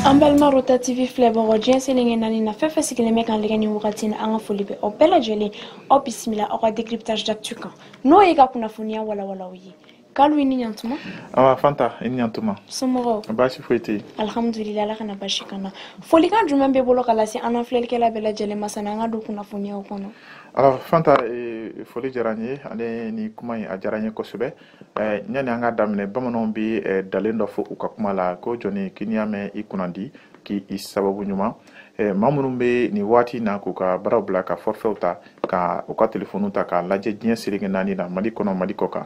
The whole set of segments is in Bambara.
an balima rota tv filɛbagaw diɲɛ seleke naani na fɛn fɛn sigilen bɛ k'an lajɛ ni wagati na an ka foli bɛ aw bɛɛ lajɛlen aw bisimila aw ka décryptage d'actu kan n'o ye ka kunnafoniya walawalaw ye kalu i ni ɲantuma awa fanta i ni ɲantuma somɔgɔw baasi foyi tɛ yen alhamdulila ala kana baasi k'an na folikan jumɛn b'i bolo k'a lase an na filɛlikɛla bɛɛ lajɛlen ma sanni an ka don kunnafoniyaw kɔnɔ Alors Fanta eh, foli diyara n ye ale ni kuma in a diyara n ye kosɛbɛ eh, yanni an ka daminɛ bamananw bɛ eh, ntalen dɔ fɔ u ka kuma la ko jɔni k'i n'i y'a mɛn i kunnandi k'i sababu ɲuman eh, maa minnu bɛ nin waati in na k'u ka baaraw bila ka forfɛw ta ka u ka telefoniw ta k'a lajɛ diɲɛ seleke naani na mali kɔnɔ mali kɔkan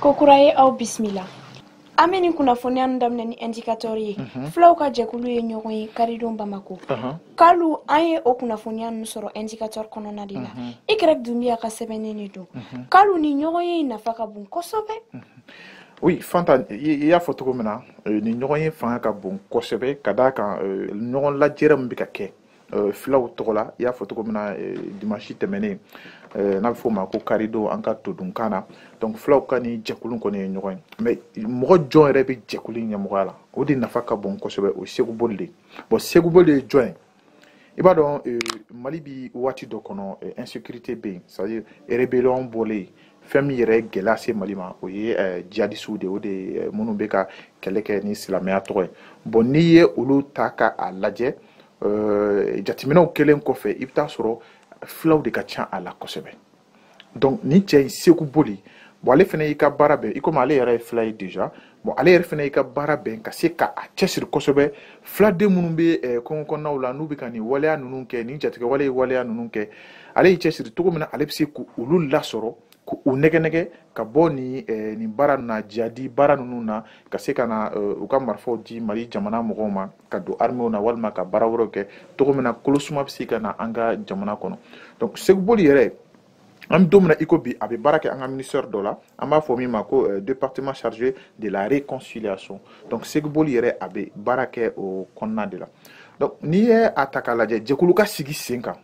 kokura ye aw bisimila an bɛ nin kunnafoniya nu daminɛ ni indicateur ye mhm. fulaw ka jɛkulu ye ɲɔgɔn ye karidon bamako mhm. kalu an ye o kunnafoniya nu sɔrɔ indicateur kɔnɔna de la mhm. y dunbiya ka sɛbɛnnen de don kalu nin ɲɔgɔnye nafa ka bon kosɛbɛ oui fanta i y'a fɔ cogo min na euh, nin ɲɔgɔnye fanga ka bon kosɛbɛ ka d'a kan euh, ɲɔgɔn lajɛrɛ min bɛ ka kɛ Euh, filaw tɔgɔ la i y'a fɔ cogo min na euh, dimansi tɛmɛnen euh, n'a bɛ fɔ o ma ko karidon an ka todunkan na donc filaw ka nin jɛkulu kɔni ye ɲɔgɔn ye mais mɔgɔ jɔn yɛrɛ bɛ jɛkulu in ɲɛmɔgɔya la o de nafa ka bon kosɛbɛ o ye seku boli de ye bon seku boli ye jɔn ye i b'a dɔn mali bɛ waati dɔ kɔnɔ insécurité bɛ yen c'est à dire rébellion bɔlen fɛn min yɛrɛ gɛlɛya se mali ma o ye eh, jihadisiw de o de eh, minnu bɛ ka kɛlɛ kɛ ni silamɛya tɔgɔ ye bon n'i ye olu ta ka a lajɛ eh, jateminɛw kɛlen kɔfɛ i bɛ t'a sɔrɔ filaw de ka ca a la kosɛbɛ donc nin cɛ in seku boli bon ale fana y'i ka baara bɛn i komi ale yɛrɛ ye fila ye déjà bon ale yɛrɛ fana y'i ka baara bɛn ka se ka a cɛsiri kosɛbɛ filaden minnu bɛ eh, kɔngɔ kɔnɔnaw la n'u bɛ ka nin waleya ninnu kɛ nin jatigɛwaleya waleya ninnu kɛ ale y'i cɛsiri cogo min na ale bɛ se k'olu lasɔrɔ k'u nɛgɛnɛgɛ ka bɔ nin eh, nin baara ninnu na jihadi baara ninnu na ka se ka na eh, u ka marifaw di mali jamana mɔgɔw ma ka don armew na walima ka baara wɛrɛw kɛ cogo min na kolosuma bɛ se ka na an ka jamana kɔnɔ donc seku boli yɛrɛ an bɛ don min na i ko bi a bɛ baara kɛ an ka ministère dɔ la an b'a fɔ min ma ko euh, département chargé de la réconciliation donc seku boli yɛrɛ a bɛ baara kɛ o kɔnɔna de la donc n'i ye a ta k'a lajɛ jɛkulu ka sigi sen kan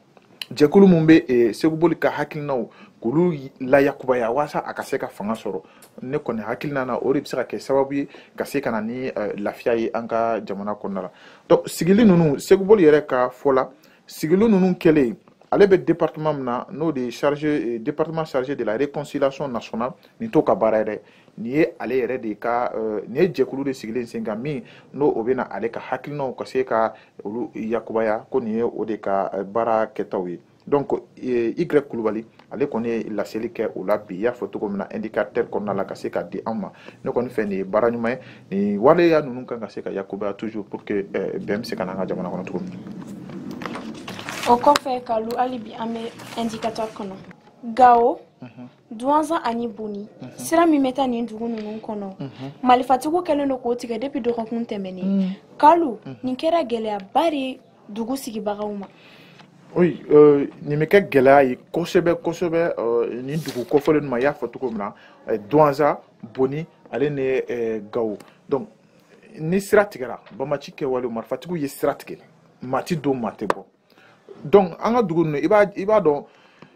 jɛkulu min bɛ euh, seku boli ka hakilinaw k'olu layakubaya walasa a ka se ka fanga sɔrɔ ne kɔni hakilina na o de bɛ se ka kɛ sababu ye ka se ka na ni euh, lafiya ye an ka jamana kɔnɔna la donc sigili ninnu seku boli yɛrɛ ka fɔ la sigili ninnu kɛlen ale bɛ département min na n'o de ye chargé eh, département chargé de la réconciliation nationale nin t'o ka baara ye dɛ nin ye ale yɛrɛ de ka eh, nin ye jɛkulu de sigilen sen kan min n'o o bɛna ale ka hakilinaw ka se ka olu yakubaya ko nin ye o de ka eh, baara kɛtaw ye donc y kulubali ale kɔni ye laseli kɛ o la bi i y'a fɔ cogo min na indicateur kɔnɔna la ka se ka di an ma ne kɔni fɛ nin ye baara ɲuman ye nin waleya ninnu kan ka se ka yakubaya toujours pour que eh, bɛn bɛ se ka na an ka jamana kɔnɔ cogo min o kɔfɛ kalu hali bi an bɛ indicateur kɔnɔ gawo mhm. duwanzan ani boni mhm. sira min bɛ taa nin dugu ninnu kɔnɔ mhm. malifatigiw kɛlen don k'o tigɛ depuis dɔgɔkun tɛmɛnen kalu nin kɛra gɛlɛyaba de dugu sigibagaw ma Oui, euh, nin bɛ kɛ gɛlɛya ye kosɛbɛ kosɛbɛ euh, nin dugu kofɔlen ninnu ma i y'a fɔ cogo min na euh, Duwanza Boni ale ni euh, Gawo donc ni sira tigɛra bamaci kɛwale marifatigiw ye sira tigɛ maa ti don maa tɛ bɔ donc an ka dugu ninnu i b'a i b'a dɔn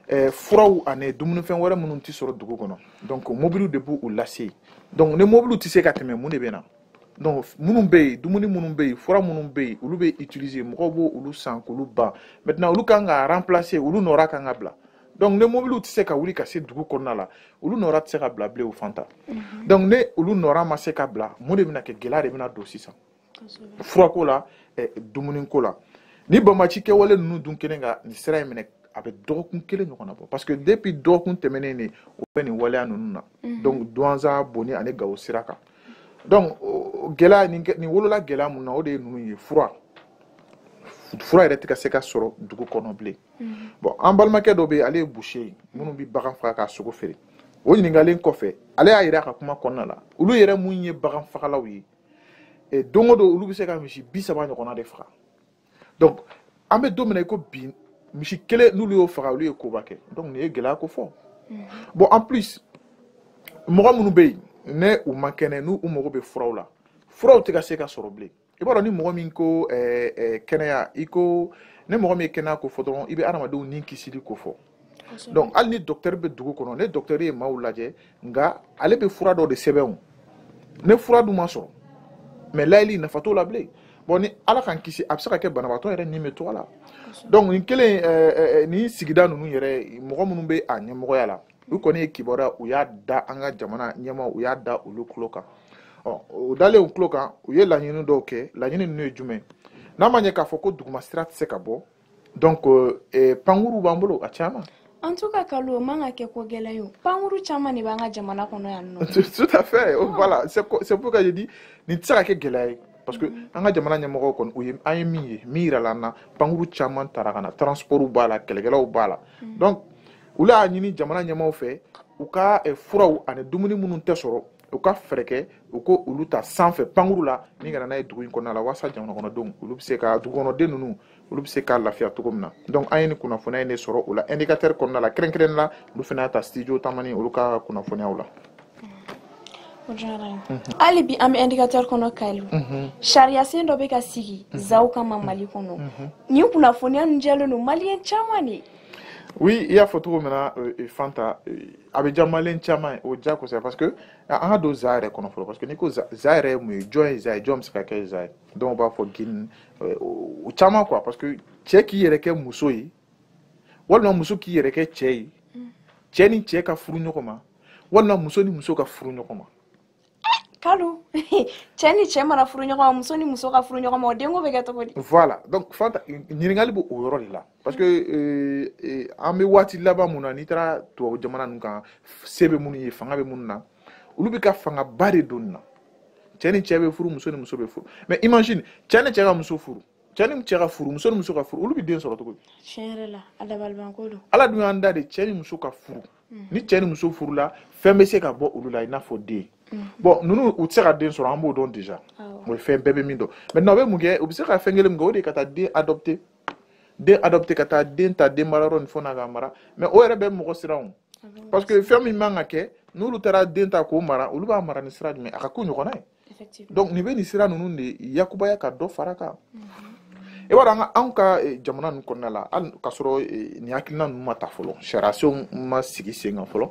eh, furaw ani dumunifɛn wɛrɛ minnu tɛ sɔrɔ dugu kɔnɔ donc mobiliw de b'olu lase donc ni mobiliw tɛ se ka tɛmɛ mun de bɛ na donc minnu bɛ yen dumuni minnu bɛ yen fura minnu bɛ yen olu bɛ utiliser mɔgɔw b'olu san k'olu ban maintenant olu kan ka remplacer olu nɔra kan ka bila donc ni mobiliw tɛ se ka wuli ka se dugu kɔnɔna la olu nɔra tɛ se ka bila bilen o fan ta mhm. donc ni olu nɔra ma se ka bila mun de bɛna kɛ gɛlɛya de bɛna don sisan furako la eh, dumuniko la ni bamaci kɛwale ninnu dun kɛlen ka nin sira in minɛ a bɛ dɔgɔkun kelen ɲɔgɔnna bɔ parce que depuis dɔgɔkun tɛmɛnen de o bɛ nin waleya ninnu na mhm. donc duwanza boni ani gawo sira kan donc gɛlɛya nin nin wolola gɛlɛya mun na o de ye ninnu ye fura fura yɛrɛ tɛ ka se ka sɔrɔ dugu kɔnɔ bilen mm-hmm. bon an balimakɛ dɔ bɛ yen ale ye boucher ye minnu bɛ bagan faga k'a sogo feere o ɲininkalen kɔfɛ ale y'a yira a ka kuma kɔnɔna la olu yɛrɛ mun ye bagan fagalaw ye don o don olu bɛ se ka misi bi saba ɲɔgɔnna de faga donc an bɛ don min na i ko bi misi kelen n'olu y'o faga olu ye koba kɛ donc nin ye gɛlɛya ko fɔ mm. bon en plus mɔgɔ minnu bɛ yen ni u man kɛnɛ n'u mago bɛ furaw la furaw tɛ ka se ka sɔrɔ bilen i b'a dɔn ni mɔgɔ min ko eh, eh, kɛnɛya i ko ni mɔgɔ min ye kɛnɛya ko fɔ dɔrɔn i bɛ adamadenw ni kisili ko fɔ donc hali ni dɔktɛri bɛ dugu kɔnɔ ni dɔktɛri ye maaw lajɛ nka ale bɛ fura dɔ de sɛbɛn ni fura dun ma sɔrɔ mais lajɛli nafa t'o la bilen bon ni ala k'an kisi a bɛ se ka kɛ banabaatɔ yɛrɛ ni bɛ to a la donc nin kɛlen nin sigida ninnu yɛrɛ mɔgɔ minnu bɛ a ɲɛmɔgɔya la u kɔni ye kibaruya u y'a da an ka jamana ɲɛmaaw u y'a da olu tulo kan ɔ o dalen u tulo kan u ye laɲini dɔw kɛ laɲini ninnu ye jumɛn n'a ma ɲɛ k'a fɔ ko duguma sira tɛ se ka bɔ donc eh, pankuru b'an bolo a caman en tout cas kalu man ka kɛ ko gɛlɛn ye pankuru caman de b'an ka jamana kɔnɔ yan nɔ tout à fait oh, voilà c'est pourquoi je dis nin tɛ se ka kɛ gɛlɛya ye parce que mm-hmm. an ka jamana ɲɛmɔgɔw kɔni u ye an ye min ye min yirala an na pankuru caman tara ka na transportw b'a la kɛlɛkɛlaw b'a la mm-hmm. donc olu y'a ɲini jamana ɲɛmɔgɔw fɛ u ka eh, furaw ani dumuni minnu tɛ sɔrɔ u ka fɛɛrɛ kɛ u k'olu ta sanfɛ pankuru la min ka na n'a ye dugu in kɔnɔna la walasa jamanakɔnɔdenw olu bɛ se ka dugukɔnɔden ninnu olu bɛ se ka lafiya cogo min na donc an ye nin kunnafoniya in de sɔrɔ o la indicateur kɔnɔna la kɛrɛnkɛrɛnnen la olu fana y'a ta studio tamani olu ka kunnafoniyaw la hali bi an bɛ indicateur kɔnɔ kalu mhm. sariyasen dɔ bɛ ka sigi mhm. zaw kama mhm. mali kɔnɔ nin kunnafoniya ninnu diyalen don maliyɛn caman ye oui i y'a fɔ cogo min na euh, euh, fanta euh, a bɛ diya maliyɛn caman ye o diya kosɛbɛ parce que an ka don za yɛrɛ kɔnɔ fɔlɔ parce que n'i ko za yɛrɛ ye mun ye jɔn ye za ye jɔn bɛ se ka kɛ za ye dɔw b'a fɔ gouine euh, o caman quoi parce que cɛ k'i yɛrɛ kɛ muso ye walima muso k'i yɛrɛ kɛ cɛ ye cɛ ni cɛ ka furu ɲɔgɔn ma walima muso ni muso ka furu ɲɔgɔn ma kalu cɛ ni cɛ mana furu ɲɔgɔn ma muso ni muso ka furu ɲɔgɔn ma o denko bɛ kɛ cogo di voilà donc fanta ɲininkali b'o yɔrɔ de la parce que euh, euh, an bɛ waati laban mun na n'i taara tubabu jamana ninnu kan se bɛ minnu ye fanga bɛ minnu na olu bɛ ka fangaba de don nin na cɛ ni cɛ bɛ furu muso ni muso bɛ furu mais imagine cɛ ni cɛ ka muso furu cɛ ni cɛ ka furu muso ni muso ka furu olu bɛ den sɔrɔ cogo di tiɲɛ yɛrɛ la a dabalibanko don ala dun y'an da de cɛ ni muso ka furu mm. ni cɛ ni muso furula fɛn bɛ se ka bɔ olu la i n'a fɔ den mm. bon ninnu u tɛ se ka den sɔrɔ an b'o dɔn déjà o ye fɛn bɛɛ bɛ min dɔn maintenant u bɛ mun kɛ u bɛ se ka fɛn kelen min kɛ o de ye ka taa den adopter den adopter ka taa den ta den marayɔrɔ ni fɛn na k'a mara mais o yɛrɛ bɛ mɔgɔ siran parce que fɛn min man ka kɛ n'olu taara den ta k'o mara olu b'a mara ni sira jumɛn a ka k'u ɲɔgɔnna ye donc nin bɛ nin sira ninnu de yakubaya ka dɔ fara kan i b'a dɔn an ka anw ka eh, jamana ninnu kɔnɔna la hali k'a sɔrɔ eh, nin hakilina ninnu ma ta fɔlɔ sariyasenw ma sigi sen kan fɔlɔ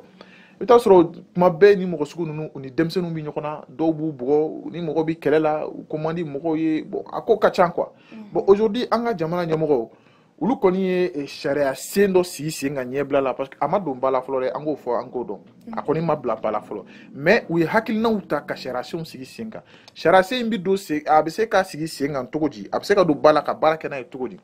i bɛ t'a sɔrɔ tuma bɛɛ ni mɔgɔ sugu ninnu u ni denmisɛnninw bɛ ɲɔgɔn na dɔw b'u bugɔ ni mɔgɔ bɛ kɛlɛ la u ko man di mɔgɔw ye bon a ko ka ca quoi bon aujourd'hui an ka jamana ɲɛmɔgɔw olu kɔni ye eh, sariyasen dɔ sigi sen kan ɲɛbila la parce que a ma don ba la fɔlɔ dɛ an k'o fɔ an k'o dɔn a kɔni ma bila ba la fɔlɔ mais u ye hakilinaw ta ka sariyasenw sigi sen kan sariyasen in bɛ don sen a bɛ se ka sigi sen kan cogo di a bɛ se ka don ba la ka baara kɛ n'a ye cogo di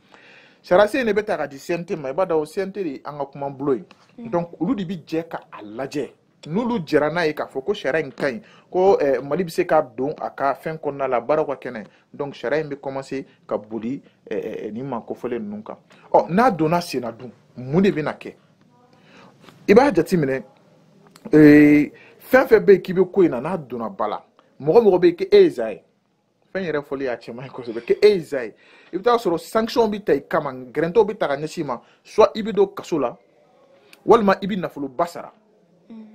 sariyasen in de bɛ ta ka di cnt ma i b'a dɔn cnt de ye an ka kuma bulon ye donc olu de bɛ jɛ ka a lajɛ n'olu jɛra n'a ye k'a fɔ ko sariya in ka ɲi ko eh, mali bɛ se ka don a ka fɛn kɔnɔna la baaraw ka kɛ n'a ye donc sariya in bɛ commencer ka boli eh, eh, eh nin maa kofɔlen ninnu kan ɔ n'a donna sen na dun mun de bɛna kɛ i b'a jateminɛ eh, fɛn fɛn bɛ yen k'i bɛ ko in na n'a donna ba la mɔgɔ mɔgɔ bɛ yen k'e ye za ye fɛn yɛrɛ fɔli a cɛ man ɲi kosɛbɛ k'e ye za ye i bɛ t'a sɔrɔ sanction bɛ ta i kama gɛrɛntɛw bɛ ta ka ɲɛsin i ma soit i bɛ don kaso la walima i bɛ nafoloba sara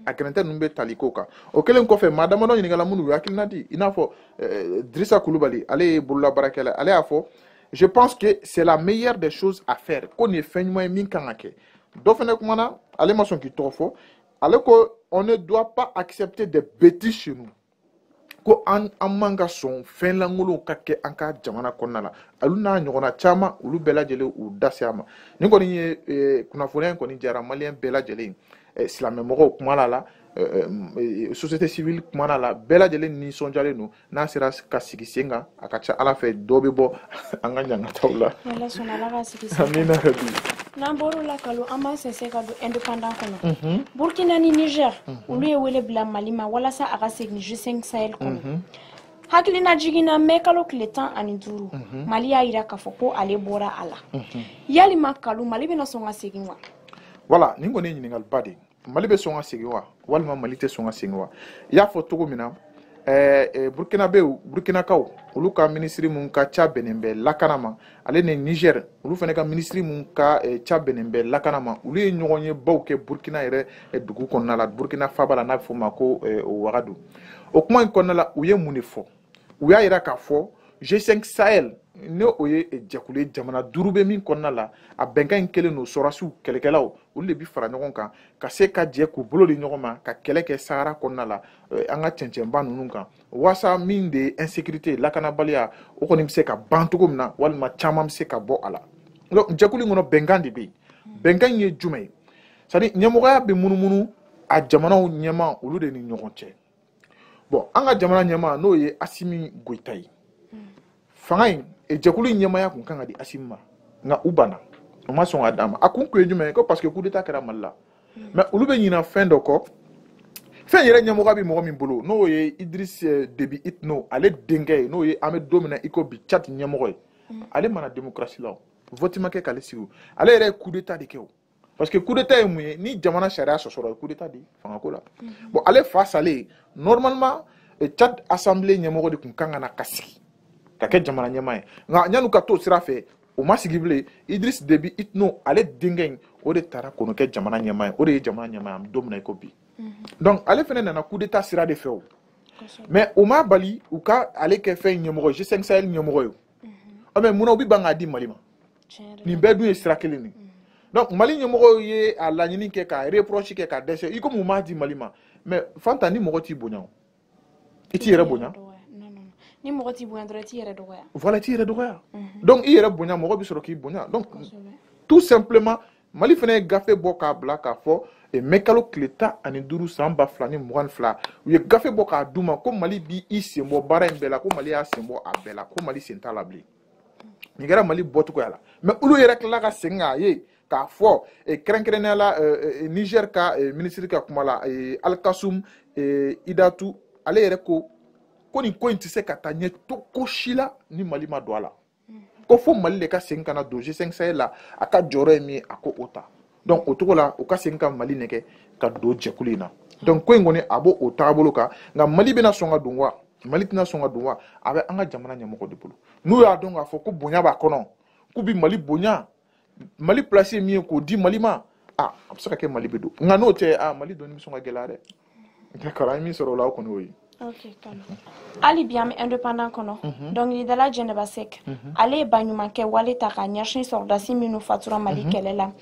a gɛrɛntɛ ninnu bɛ tali k'o kan o kɛlen kɔfɛ maa damadɔ ɲininkala minnu y'u hakilina di i n'a fɔ eh, dirisa kulubali ale ye bololabaarakɛla ale y'a fɔ je pense que c'est la meilleure des choses à faire ko nin ye fɛn ɲuman ye min kan ka kɛ dɔ fana kumana ale ma sɔn k'i tɔgɔ fɔ ale ko on ne doit pas accepter des bêtises chez nous ko an an man ka sɔn fɛn lankolonw ka kɛ an ka jamana kɔnɔna la olu n'a ɲɔgɔnna caman olu bɛɛ lajɛlen u da se a ma nin kɔni ye eh, kunnafoniya in kɔni diyara maliyɛn bɛɛ lajɛlen eh, silamɛmɔgɔw kumana la eh, société civile kumana la bɛɛ lajɛlen nisɔndiyalen don n'a sera ka sigi sen kan a ka ca ala fɛ dɔ bɛ bɔ an ka ɲangataw la amina rabi n'an bɔr'o la kalu an b'an sɛnsɛn ka don indépendant kɔnɔ mhm. burkina ni niger mhm. olu ye wele bila mali ma walasa a ka segin g5 sahel kɔnɔ mhm. hakilinajigin na mɛ kalo tile tan ani duuru mali y'a yira k'a fɔ ko ale bɔra a la yalima kalu mali bɛna sɔn ka segin wa voilà nin kɔni ye ɲininkaliba de ye mali bɛ sɔn ka segin wa walima mali tɛ sɔn ka segin wa i y'a fɔ cogo min na eh, eh, burkinabew burkinakaw olu ka minisiri min ka ca bɛnnen bɛ lakana ma ale ni niger olu fana ka minisiri min ka eh, ca bɛnnen bɛ lakana ma olu ye ɲɔgɔnyebaw kɛ burkina yɛrɛ eh, dugu kɔnɔna la burkina faaba la n'a bɛ fɔ o ma ko eh, wagadu o kuma in kɔnɔna la u ye mun de fɔ u y'a yira k'a fɔ g5 sahel n'o ye jɛkulu ye jamana duuru bɛ min kɔnɔna la a bɛnkan in kɛlen don sɔrɔsiw kɛlɛkɛlaw olu de bi fara ɲɔgɔn kan ka se ka jɛ k'u bolo di ɲɔgɔn ma ka kɛlɛ kɛ sahara kɔnɔna la eh, an ka cɛncɛnba ninnu kan waasa min de ye insécurité lakanabaliya o kɔni bɛ se ka ban cogo min na walima caman bɛ se ka bɔ a la donc jɛkulu in kɔnɔ bɛnkan de bɛ yen bɛnkan in ye jumɛn ye c'est à dire ɲɛmɔgɔya bɛ munumunu a jamanaw ɲɛmaa olu de ni ɲɔgɔn cɛ bon an ka jamana ɲɛmaa n'o ye asimi goyita ye fanga in e jɛkulu in ɲɛmaaya kun kan ka di asimi ma nka u banna u ma sɔn ka d'a ma a kun kun ye jumɛn ye ko parce que coup d'état kɛra mali la mais olu bɛ ɲina fɛn dɔ kɔ fɛn yɛrɛ ɲɛmɔgɔya bɛ mɔgɔ min bolo n'o ye idris eh, debi itno ale denkɛ ye n'o ye an bɛ don min na i ko bi tchad ɲɛmɔgɔ ye ale ma na démocratie la o vɔti ma kɛ k'ale sigi o ale yɛrɛ ye coup d'état de kɛ o parce que coup d'état ye mun ye ni jamana sariya sɔsɔra ye coup d'état de ye fangako la bon ale fa salen normalement eh, tchad assemblée ɲɛmɔgɔ de tun kan ka na ka sigi ka kɛ jamana ɲɛma ye nka yan'u ka t'o sira fɛ o ma sigi bilen idris debi itno ale denkɛ in o de tara k'o kɛ jamana ɲɛma ye o de ye jamana ɲɛma ye an bɛ don min na i ko bi donc ale fana nana coup d'état sira de fɛ o mais o ma bali u ka ale kɛ fɛn ɲɛmɔgɔ g5 sahel ɲɛmɔgɔ ye o mais munna u bɛ ban k'a di mali ma nin bɛɛ dun ye sira kelen de donc mali ɲɛmɔgɔw ye a laɲini kɛ ka reproche kɛ ka dɛsɛ i komi u m'a di mali ma mais fanta ni mɔgɔ t'i bonya o i t'i yɛrɛ bonya ni mɔgɔ t'i bonya dɔrɔn i t'i yɛrɛ dɔgɔya voilà i t'i yɛrɛ dɔgɔya donc i yɛrɛ bonya mɔgɔ bɛ sɔrɔ k'i bonya donc tout simplement mali fana ye gafe bɔ k'a bila k'a fɔ e, mɛkalo tile tan ani duuru san ba fila ni mugan ni fila u ye gafe bɔ k'a d'u ma ko mali bi i sen bɔ baara in bɛɛ la ko mali y'a sen bɔ a bɛɛ la ko mali sen t'a la bilen nin kɛra mali bɔcogoya la mais olu yɛrɛ tilala ka segin k'a ye k'a fɔ e, kɛrɛnkɛrɛnnenya la e, niger ka minisiri ka kuma la alikasum idatu ale yɛrɛ ko ko nin ko in tɛ se ka taa ɲɛ cogo si la ni mali ma don a la ko fo mali de ka segin ka na don g5 sahel la a ka jɔyɔrɔ ye min ye a k'o ta donc o cogo la u ka segin ka mali nɛgɛn ka don jɛkulu in na donc ko in kɔni a b'o o taabolo kan nka mali bɛna sɔn ka don wa mali tɛna sɔn ka don wa a bɛ an ka jamana ɲɛmɔgɔ de bolo n'u y'a dɔn k'a fɔ ko bonya b'a kɔnɔ k'u bɛ mali bonya mali place ye min ye k'o di mali ma a a bɛ se ka kɛ mali bɛ don nka n'o tɛ a mali donni bɛ sɔn ka gɛlɛya dɛ d'accord an ye min sɔrɔ o la o kɔni y'o ye ok kalo hali bi an bɛ indépendant kɔnɔ dɔnkilidala jɛnɛba sɛk ale ye baɲumankɛ wale ta ka ɲɛsin sɔrɔdasi minnu fatura mali kɛlɛ la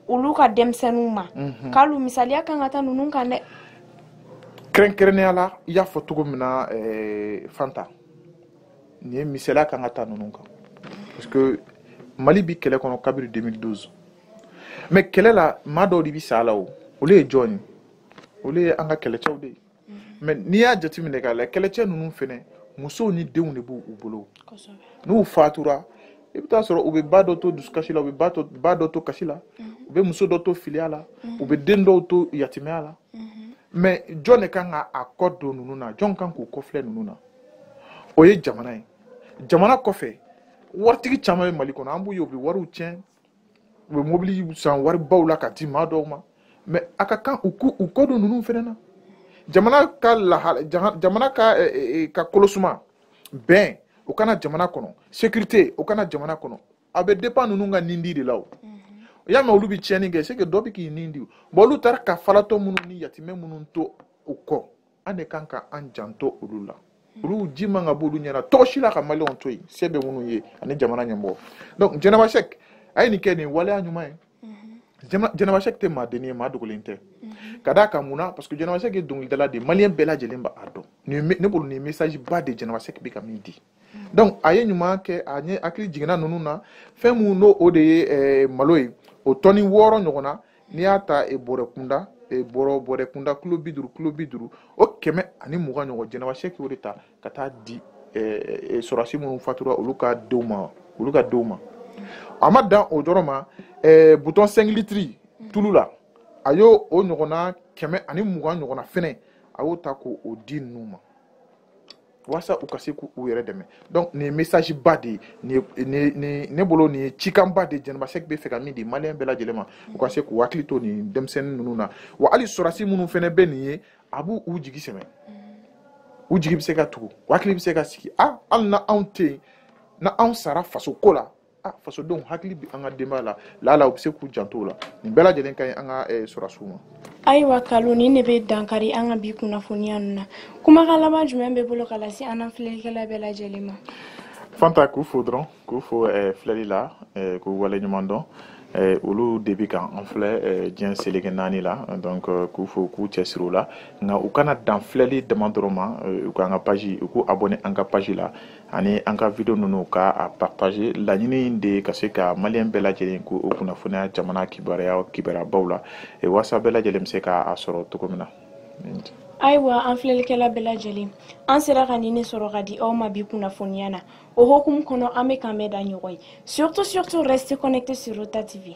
olu ka denmisɛnninw ma kalo misaliya kan ka ta ninnu kan dɛ kɛrɛnkɛrɛnnenya la i y'a fɔ cogo min na eh, fanta nin ye misaliya kan ka ta ninnu kan parce que mali bi kɛlɛ kɔnɔ kabiri 2012 mais kɛlɛ la maa dɔw de bi sa a la o olu ye jɔn ye olu ye an ka kɛlɛcɛw de ye mais n'i y'a jateminɛ k'a lajɛ kɛlɛcɛ ninnu fɛnɛ musow ni denw de b'u bolo n'u fatura i bɛ taa sɔrɔ u bɛ ba dɔ to dusukasi la u bɛ ba to ba dɔ to kasi la u bɛ muso dɔ to filiya la u bɛ den dɔw to yatimɛya la mais jɔn de kan ka a kɔ don ninnu na jɔn kan k'u kɔfilɛ ninnu na o ye jamana ye jamana kɔfɛ waritigi caman bɛ mali kɔnɔ an b'u ye u bɛ wariw tiɲɛ u bɛ mobili san waribaw la ka di maa dɔw ma mais a ka kan u k'u u kɔ don ninnu fɛnɛ na jamana ka lahala jamana ka eh, eh, eh, ka kolosuma bɛn o ka na jamana kɔnɔ sécurité o ka na jamana kɔnɔ a bɛ dépend ninnu ka nindi de la o mhm. y'a mɛn olu bɛ tiɲɛni kɛ c'est que dɔ bɛ k'i nin di bon olu taara ka falatɔ minnu ni yatimɛ minnu to u kɔ an de kan ka an janto olu la olu ji man ka b'olu ɲɛ na cogo si la ka maliyɛnw to yen se bɛ minnu ye ani jamana ɲɛmɔgɔ donc jɛnɛba sɛk a ye nin kɛ nin waleya ɲuman ye mhm. jɛnɛba sɛk tɛ maaden ye maa dogolen tɛ mhm. ka d'a kan mun na parce que jɛnɛba sɛk ye dɔnkilidala de ye maliyɛn bɛɛ lajɛlen b'a dɔn ne bolo nin message ba de jɛnɛba sɛk bɛ ka min di donc a ye ɲuman kɛ a ɲɛ hakili jiginna ninnu na fɛn minnu n'o o de ye eh, malo ye o tɔni wɔɔrɔ ɲɔgɔnna n'i y'a ta eh, bɔrɛ kunda eh, bɔrɔ bɔrɛ kunda kilo bi duuru kilo bi duuru o kɛmɛ ani mugan ɲɔgɔn jɛnɛba sɛk y'o de ta ka taa di sɔrɔdasi minnu fatura olu ka denw ma a ma dan o dɔrɔn ma bidon cinq litres tulu la a y'o o ɲɔgɔnna kɛmɛ ani mugan ɲɔgɔnna fɛnɛ a y'o ta k'o di ninnu ma walasa u ka se k'u yɛrɛ dɛmɛ donc nin ye message ba de ye ne bolo nin ye cikanba de jɛnɛba sɛki bɛ fɛ ka min di maliyɛn bɛɛ lajɛlen ma u ka se k'u hakili to nin denmisɛnnin ninnu na wa hali sɔrɔdasi minnu fɛnɛ bɛ nin ye a b'u jigi sɛmɛ u jigi bɛ se ka tugu u hakili bɛ se ka sigi a hali na anw tɛ yen na anw sara faso ko la a fasodenw hakili bi an ka denbaya la lala u bɛ se k'u janto o la nin bɛɛ lajɛlen ka ɲi an ka eh, sɔrɔdasiw ma ayiwa kalo nin de bɛ dankari an ka bi kunnafoniya ninnu na kumakan laban jumɛn b'i bolo ka lase an na filɛlikɛla bɛɛ lajɛlen ma fanta k'u fo dɔrɔn k'u fo eh, filɛli la eh, k'u waleɲuman dɔn Eh, olu de bi kan an filɛ eh, diɲɛ seleke naani la donc eh, k'u fo k'u cɛsiri o la nka u kana dan filɛli dama dɔrɔn ma u k'an ka page u k'u abonné an ka page la ani an ka video ninnu ka a partager laɲini de ka se ka maliyɛn bɛɛ lajɛlen k'u kunnafoniya jamana kibaruya kibaruyabaw la e, walasa bɛɛ lajɛlen bɛ se ka a sɔrɔ cogo min na ayiwa an filɛlikɛla bɛɛ lajɛlen an sera ka nin ne sɔrɔ ka di aw ma bi kunnafoniya na o hokumu kɔnɔ an bɛ k'an bɛn da ɲɔgɔn ye surtout surtout restez connectés sur rota tv